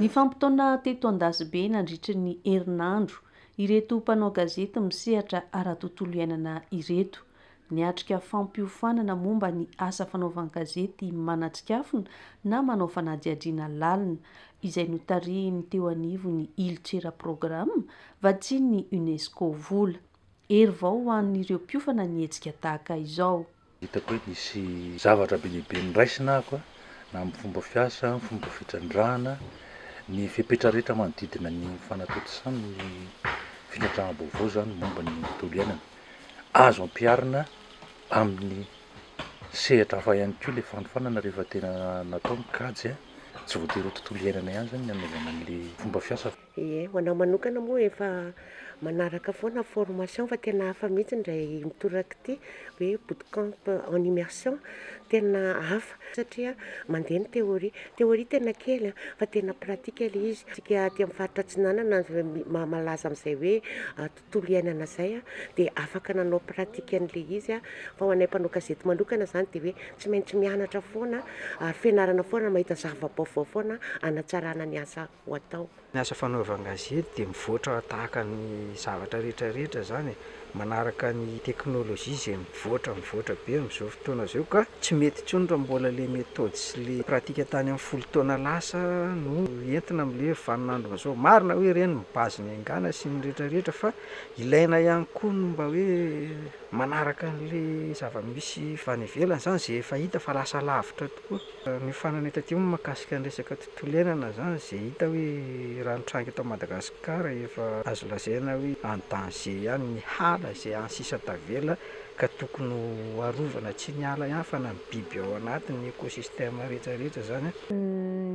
Nifampitaona teto Andasibe nandritry ny herinandro ireto mpanao gazety misehatra ara-tontolo iainana ireto. Niatrika fampiofanana momba ny asa fanaovan-gazety manatsikafona na manao fanadihadiana lalina, izay notarihin'ny teo anivon'ny Ilcera Programa, vatsian'ny UNESCO. Vola. Hery vao ho an'ireo mpiofana ny hetsika tahaka izao. Hitako hoe nisy zavatra be dia be noraisina aho an, na amin'ny fomba fiasa, amin'ny fomba fitrandrahana, ny fepetra rehetra manodidina ny fanatontosana ny fitrandrahana-baovao izany momba ny tontolo iainana. azo ampiharina amin'ny sehatra hafa ihany koa le fanofanana rehefa tena natao ny kajy a, tsy voatery ho tontolo iainana ihany zany ny anaovana an'le fomba fiasa. Ie, ho anah manokana moa efa manaraka foana formation fa tena hafa mihitsy indray mitoraka ity hoe bootcamp en immersion, tena hafa satria mandeha ny théorie, théorie tena kely a, fa tena pratika le izy, isika aty amin'ny faritra atsinanana malaza amin'izay hoe tontolo iainana izay dia afaka nanao pratique an'ilay izy fa ho anay mpanao gazety manokana izany dia hoe tsy maintsy mianatra foana ary fianarana foana mahita zava-baovao foana hanatsarana ny asa ho atao. Ny asa fanaovan-gazety dia mivoatra tahaka ny zavatra rehetra rehetra izany e, manaraka ny teknolojia izay Mivoatra mivoatra be amin'izao fotoana izao ka tsy mety intsony raha mbola ilay méthode sy ilay pratique tany amin'ny folo taona lasa no entina amin'ilay vanin'andro izao. Marina hoe ireny ny base ny haingana sy ny rehetra rehetra fa ilaina ihany koa ny mba hoe manaraka an'ilay zava-misy any ivelany izany izay efa hita fa lasa lavitra. Koa ny farany taty moa mahakasika ny resaka tontolo iainana izany izay hita hoe raha nitranga eto Madagasikara efa azo lazaina hoe en danger ihany ny hala izay any sisa tavela ka tokony ho arovana tsy ny ala ihany fa na ny biby ao anatiny ny écosystème rehetra rehetra izany a.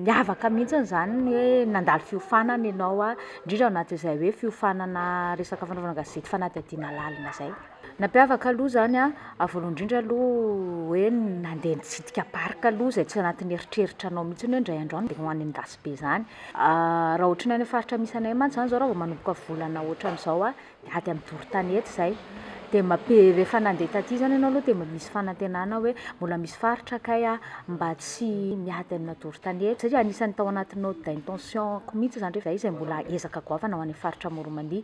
Niavaka mihitsy izany ny hoe nandalo fiofanana ianao indrindra ao anatin'izay hoe fiofanana resaka fanaovana gazety fanadihadiana lalina izay. Nampiavaka aloha izany a, voalohany indrindra aloha hoe nandeha nitsidika parc aloha izay tsy anatin'ny eritreritranao mihitsy hoe indray andro any dia ho any Andasibe izany. Raha ohatran'ny any amin'ny faritra misy anay mantsy izany izao raha vao manomboka volana ohatran'izao a, dia ady amin'ny doro tanety izay. Dia mampia- rehefa nandeha taty izany ianao aloha dia mba misy fanantenana hoe mbola misy faritra kay aho mba tsy miady amina doro tanety. Satria anisan'ny tao anatin'ny note d'intention-ko mihitsy izany rehefa izay izy izay mbola ezaka goavana ho any amin'ny faritra Moromania.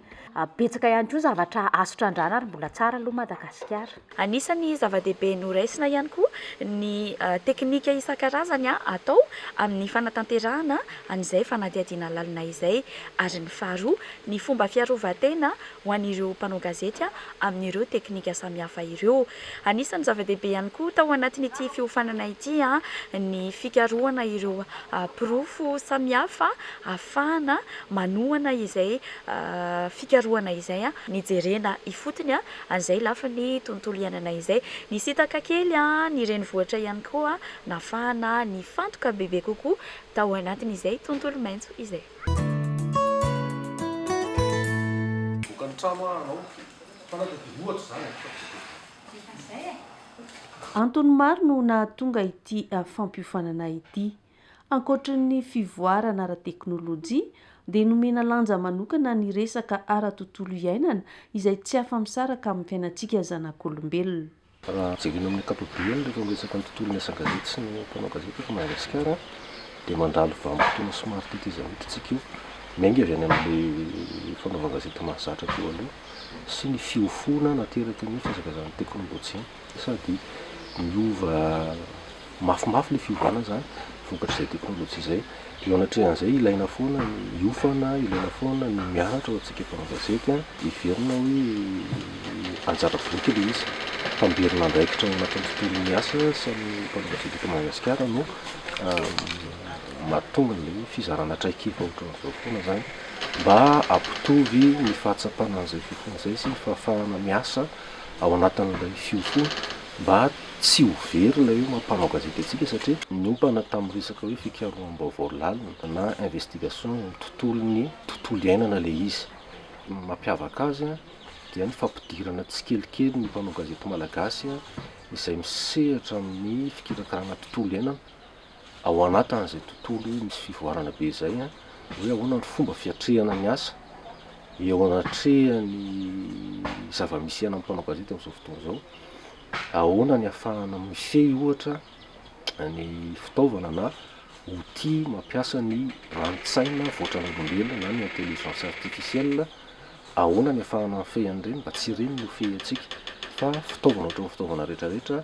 Betsaka ihany koa zavatra azo trandrahana ary mbola tsara aloha Madagasikara. Anisan'ny zava-dehibe noraisina ihany koa ny teknika isan-karazany atao amin'ny fanatanterahana an'izay fanadihadiana lalina izay ary ny faharoa ny fomba fiarovan-tena ho an'ireo mpanao gazety amin'ireo teknika samihafa ireo. Anisan'ny zava-dehibe ihany koa tao anatin'ity fiofanana ity ny fikarohana ireo porofo samihafa ahafahana manohana izay fikarohana izay nijerena ifotony an'izay lafiny tontolo iainana izay. Nisintaka kely ny renivohitra ihany koa nahafahana nifantoka bebe kokoa tao anatin'izay tontolo maitso izay. Antony maro no nahatonga ity fampiofanana ity. Ankoatry ny fivoarana ara-teknolojia, dia nomena lanja manokana ny resaka ara-tontolo iainana izay tsy afa-misaraka amin'ny fiainantsika zanak'olombelona. Raha jerena amin'ny ankapobeny, rehefa miresaka ny tontolon'ny asa gazety sy ny mpanao gazety eto Madagasikara, dia mandalo vanim-potoana somary teteza hoditra isika io. Miainga avy any amin'ilay fanaovan-gazety mahazatra teo aloha sy ny fiofoana nateraky ny fihazakazahan'ny teknolojia. Sady miova mafimafy ilay fiovana izany vokatr'izay teknolojia izay. Eo anatrehan'izay ilaina foana ny hiofana, ilaina foana ny mianatra ho antsika mpanao gazety an, heverina hoe anjara biriky ilay izy, tamberina andraikitra ao anatin'ny tontolon'ny asa sy ny mpanao gazety eto Madagasikara no mahatonga an'ilay fizarana traikefa ohatran'izao foana izany mba hampitovy ny fahatsapana an'izay fiofanana izay sy ny fahafahana miasa. ao anatin'ilay fiofoana mba tsy ho very ilay hoe maha mpanao gazety antsika satria niompana tamin'ny resaka hoe fikaroham-baovao lalina na investigation ny tontolon'ny tontolo iainana ilay izy. Ny mampiavaka azy dia ny fampidirana tsikelikely ny mpanao gazety malagasy izay misehatra amin'ny fikirakarana tontolo iainana ao anatin'izay tontolo misy fivoarana be izay an, hoe ahoana ny fomba fiatrehana ny asa eo anatrehan'ny zava-misy iainan'ny mpanao gazety amin'izao fotoana izao, ahoana ny ahafahana mifehy ohatra ny fitaovana na outil mampiasa ny rani-tsaina voatran'olombelona na ny intelligence artificielle, ahoana ny ahafahana mifehy an'ireny mba tsy ireny no hofehy antsika fa fitaovana ohatran'ny fitaovana rehetra rehetra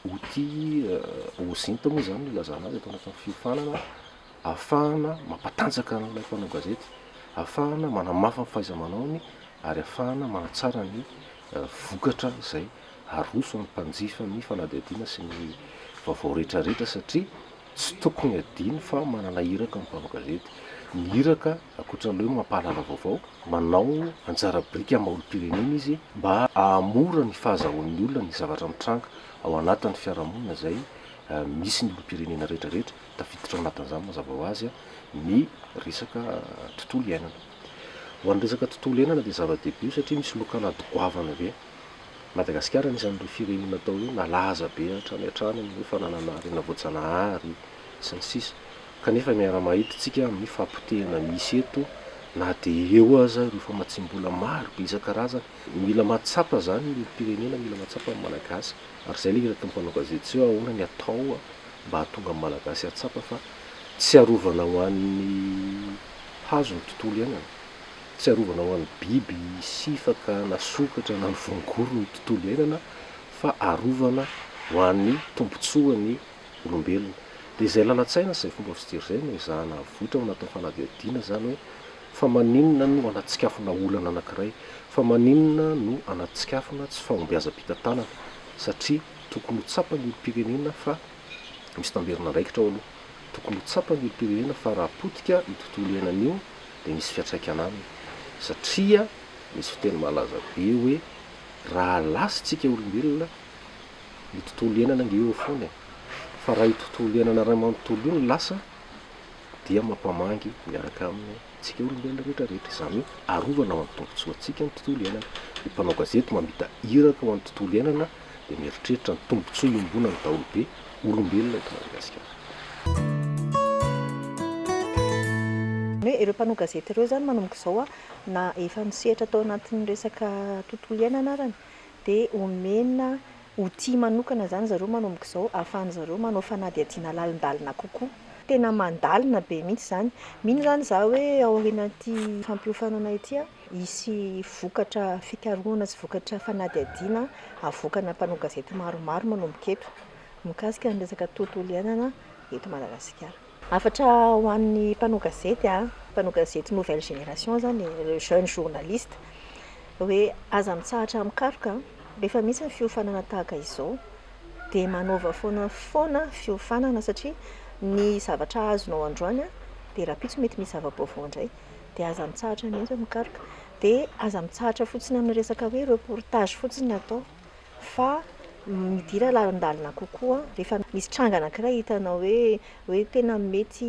Outils OSINT moa izany no ilazana azy eto anatin'ny fiofanana, ahafahana mampatanjaka an'ilay mpanao gazety, ahafahana manamafy ny fahaiza-manaony ary ahafahana manatsara ny vokatra izay aroso amin'ny mpanjifa ny fanadihadiana sy ny vaovao rehetrarehetra satria Tsy tokony hadino fa manana iraka ny mpanao gazety. Ny iraka, ankoatran'ilay hoe mampahalala vaovao, manao anjara biriky amin'ny maha-olom-pirenena izy mba hahamora ny fahazahoan'ny olona ny zavatra mitranga ao anatin'ny fiarahamonina izay misy ny olom-pirenena rehetrarehetra, tafiditra ao anatin'izany mazava ho azy ny resaka tontolo iainana. Ho an'ny resaka tontolo iainana dia zava-dehibe io satria misy lokalady goavana be. Madagasikara anisan'ireo firenena atao hoe malaza be hatrany hatrany amin'ny hoe fananana harena voajanahary sy ny sisa Kanefa miara-mahidintsika amin'ny fahapotehana misy eto na dia eo aza ireo famatsiam-bola maro be isan-karazany Mila mahatsapa izany ny olom-pirenena, mila mahatsapa ny Malagasy ary izay ilay hira ataon'ny mpanao gazety tsy hoe ahoana ny atao mba hahatonga ny Malagasy hahatsapa fa tsy arovana ho an'ny hazo ny tontolo iainana Tsy arovana ho an'ny biby sifaka na sokatra na ny voangory ny tontolo iainana fa arovana ho an'ny tombontsoan'ny olombelona. Dia izay lalan-tsaina sy izay fomba fijery izay no ezahana havoitra na atao fanadihadiana izany hoe fa maninona no anatsikafona olana anankiray, fa maninona no anatsikafona tsy fahombiazam-pitantanana satria tokony ho tsapan'ny olom-pirenena fa misy tamberin'andraikitra ao aloha. Tokony ho tsapan'ny olom-pirenena fa raha potika io tontolo iainana io dia misy fiantraikany aminy satria misy fiteny malaza be hoe raha lasintsika olombelona io tontolo iainana ange eo foana e! fa raha io tontolo iainana iray manontolo io no lasa dia mampamangy miaraka aminy antsika olombelona rehetra rehetra, izany hoe arovana ho an'ny tombotsoantsika ny tontolo iainana, ny mpanao gazety mamita iraka ho an'ny tontolo iainana dia mieritreritra ny tombotsoa iombonan'ny daholobe, olombelona eto Madagasikara. Ny hoe ireo mpanao gazety ireo izany manomboka izao a, na efa misehatra tao anatin'ny resaka tontolo iainana arany, dia omena outil manokana izany zareo manomboka izao ahafahan'ny zareo manao fanadihadiana lalindalina kokoa. Tena mandalina be mihitsy izany. Mino izany izaho hoe aorianan'ity fampiofanana ity a, Hisy vokatra fikarohana sy vokatra fanadihadiana avoakana mpanao gazety maromaro manomboka eto, mikasika ny resaka tontolo iainana eto Madagasikara. Hafatra ho an'ny mpanao gazety, mpanao gazety nouvelle génération zany e, le jeune journaliste, hoe aza mitsahatra mikaroka, rehefa misy ny fiofanana tahaka izao dia manaova foana foana fiofanana satria ny zavatra azonao androany dia rahampitso mety misy zava-baovao indray. dia aza mitsahatra mihitsy mikaroka, dia aza mitsahatra fotsiny amin'ny resaka hoe reportage fotsiny no atao fa midira lalindalina kokoa rehefa misy tranga anankiray hitanao hoe hoe tena mety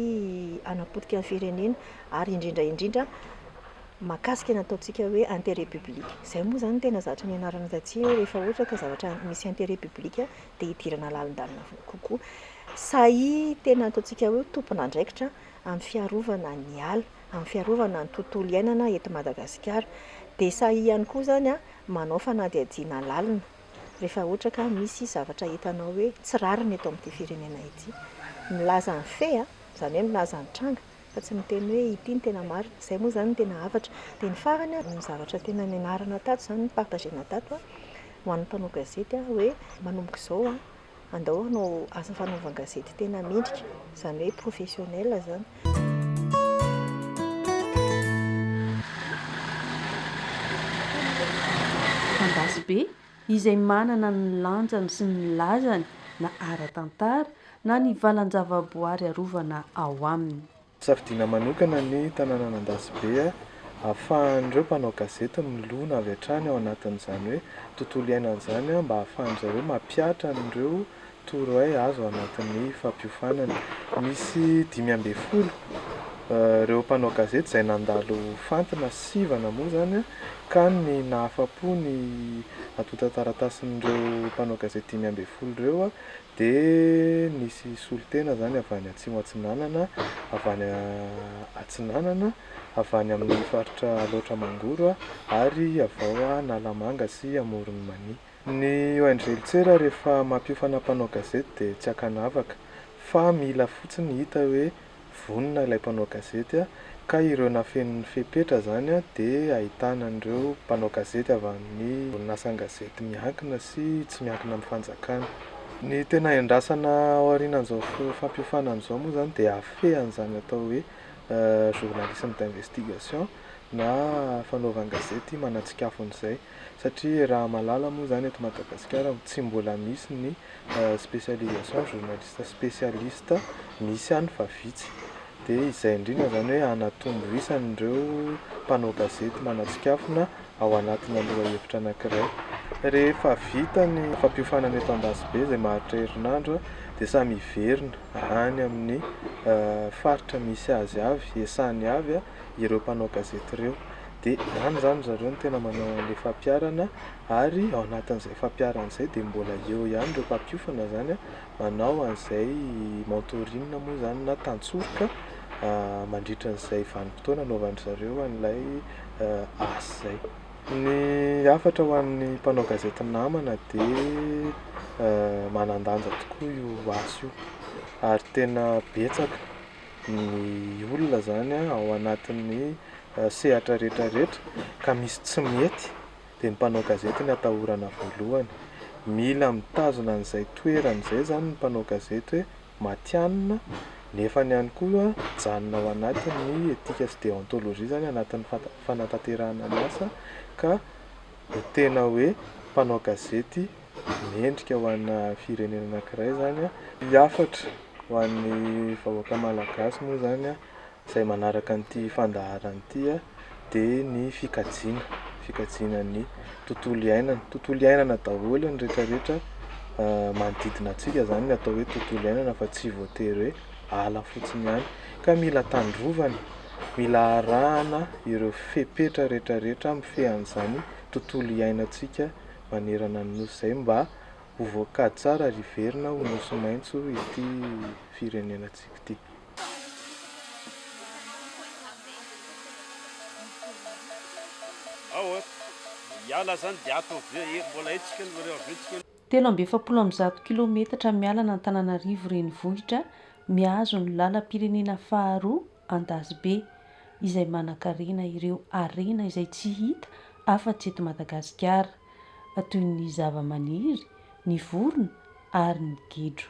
hanapotika ny firenena ary indrindra indrindra mahakasika ny ataontsika hoe interet public, izay moa izany no tena zatra nianarana taty hoe rehefa ohatra ka zavatra misy interet public dia hidirana lalindalina kokoa, sahia tena ataontsika hoe tompon'andraikitra. amin'ny fiarovana ny ala, amin'ny fiarovana ny tontolo iainana eto Madagasikara. Dia sahy ihany koa izany manao fanadihadiana lalina rehefa ohatra ka misy zavatra hitanao hoe tsy rariny eto amin'ity firenena ity. Milaza ny fait a, izany hoe milaza ny tranga fa tsy miteny hoe ity no tena marina. Izay moa izany no tena hafatra. Dia ny farany a, ny zavatra tena nianarana tato izany, ni-partager-na tato ho an'ny mpanao gazety hoe manomboka izao Andao hanao asa fanaovan-gazety tena mendrika, izany hoe professionnel izany. Andasibe, izay manana ny lanjany sy ny lazany na ara-tantara na ny valan-javaboary arovana ao aminy. Safidiana manokana ny tanànan'Andasibe ahafahan'ireo mpanao gazety milona avy hatrany ao anatin'izany hoe tontolo iainana izany mba ahafahan-dry zareo mampihatra an'ireo torohay azo ao anatin'ny fampiofanana. Misy dimy ambin'ny folo ireo mpanao gazety izay nandalo fantina sivana moa izany ka ny nahafa-po ny antontan-taratasin'ireo mpanao gazety dimy ambin'ny folo ireo Dia nisy solontena izany avy any Atsimo Atsinanana, avy any Atsinanana, avy any amin'ny faritra Alaotra Mangoro ary avy ao Analamanga sy Amoron'i Mania. Ny ONG Litsera rehefa mampiofana mpanao gazety dia tsy ankanavaka fa mila fotsiny hita hoe Vonona ilay mpanao gazety ka ireo nafeniny ny fepetra izany dia ahitana an'ireo mpanao gazety avy amin'ny orinasan-gazety miankina sy tsy miankina amin'ny fanjakana. Ny tena iandrasana aorianan'izao fampiofanana izao moa izany dia hafehy an'izany atao hoe journalisme d'investigation na fanaovan-gazety manatsikafona izay. Satria raha malala moa izany eto Madagasikara tsy mbola misy ny spécialisation journaliste spécialiste misy any fa vitsy. Dia izay indrindra izany hoe hanatombo isan'ireo mpanao gazety manatsikafona ao anatina lohahevitra anankiray. Rehefa vita ny fampiofanana eto Ambasibe izay maharitra herinandro dia samy hiverina any amin'ny faritra misy azy avy, esany avy ireo mpanao gazety ireo. dia any izany ry zareo no tena manao an'ilay fampiharana ary ao anatin'izay fampiharana izay dia mbola eo ihany ireo mpampiofana izany an, manao an'izay mentoring moa izany na tantsoroka mandritra an'izay vanim-potoana anaovan-dry zareo an'ilay asa izay. Ny hafatra ho an'ny mpanao gazety namana dia manan-danja tokoa io asa io ary tena betsaka ny olona zany ao anatin'ny sehatra rehetra rehetra ka misy tsy mety dia ny mpanao gazety no atahorana voalohany. Mila mitazona an'izay toerany izay zany ny mpanao gazety hoe matihanina nefa ny ihany koa mijanona ao anatin'ny etika sy deontologie zany anatin'ny fanatanterahana ny asa ka ho tena hoe mpanao gazety mendrika ho ana firenena anankiray izany ny hafatra ho an'ny vahoaka malagasy moa izany izay manaraka an'ity fandaharana ity dia ny fikajiana, fikajiana ny tontolo iainana, tontolo iainana daholo ny rehetra rehetra manodidina antsika izany no atao hoe tontolo iainana fa tsy voatery hoe ala fotsiny ihany ka mila tandrovana, mila arahana ireo fepetra rehetra rehetra mifehy an'izany tontolo iainantsika manerana ny nosy izay mba ho voakady tsara ary hiverina ho nosy maitso ity firenenantsika ity. Telo amby efapolo amby zato kilaometatra miala an'Antananarivo renivohitra mihazo ny lalam-pirenena faharoa Andazobe izay manankarena ireo harena izay tsy hita afa-tsy eto Madagasikara, toy ny zavamaniry, ny vorona ary ny gidro.